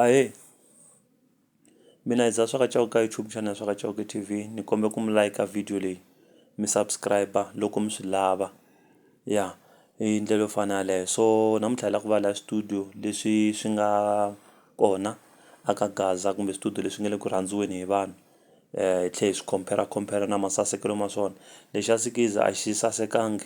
Ahee mina hi dzaha swa ka Chauke ka YouTube xana ya swa ka Chauke T_V ni kombela ku mi like-a video leyi mi subscribe-a loko mi swi lava ya hi ndlela yo fana yaleyo so namuntlha hi lava ku va laha studio leswi swi nga kona a ka Gaza kumbe studio leswi nga le ku rhandziweni hi vanhu hi tlhela hi swi compare-a compare-a na masasekelo ma swona lexa Sikiza a xi sasekanga.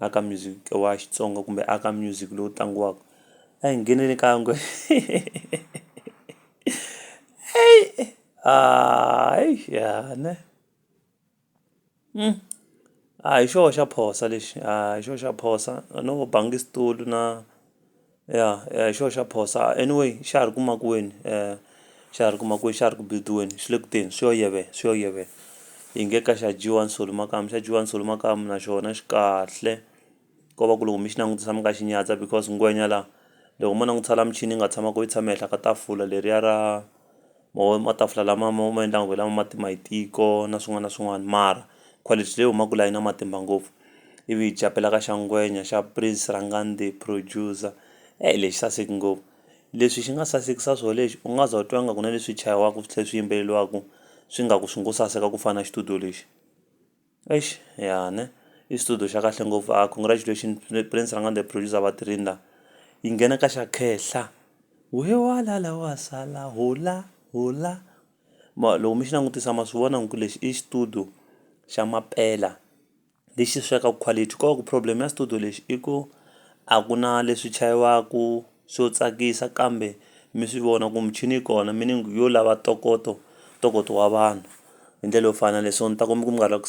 aka music wa Xitsonga kumbe aka music lowu tlangiwaka a hi ngheneni ka yingwe ya ne a hi xoho xa phosa lexi a hi xoho xa phosa no bangi xitulu na. Ya hi xona xa phoso anyway xa ha ri ku makuweni xa ha ri ku makuweni xa ha ri ku build-iweni xi le ku teni swi yo yiveka swi yo yiveka hi nge ka xa dyiwa nsoli makamu xa dyiwa nsoli makamu na xona xi kahle ko va ku loko mi xi langutisa mi nga xi nyadza because ngwenya la loko mo langutisa la michini yi nga tshama ko yi tshama ehenhla ka tafula leriya ra. Mo matafula lama mo ma endla onge lama ma tima hi tiko na swin'wana na swin'wana mara quality leyi humaka laha yi na matimba ngopfu ivi hi chapela ka xa ngwenya xa Prince Rhangani the producer eyi lexi saseke ngopfu leswi xi nga sasekisa swona lexi u nga za u twa ngaku na leswi chayiwaku swi tlhe swi yimbeleriwaku swi nga ku swi ngo saseka ku fana na xitudiyo lexi. Eish ya ne i xitudio xa kahle ngopfu a congratulation prince rhangande producer va tirheni la yi nghena ka xa khehla wehe wa la la wa sala hola hola ma loko mi xi langutisa ma swi vona ku lexi i xitudio xa mampela lexi sweka quality ko va ku problem ya xitudio lexi i ku a ku na leswi chayiwaku swo tsakisa kambe mi swi vona ku michini yi kona meaning yo lava ntokoto ntokoto wa vanhu hi ndlela yo fana na leswo ni ta ku mi ku mi nga ri la ku .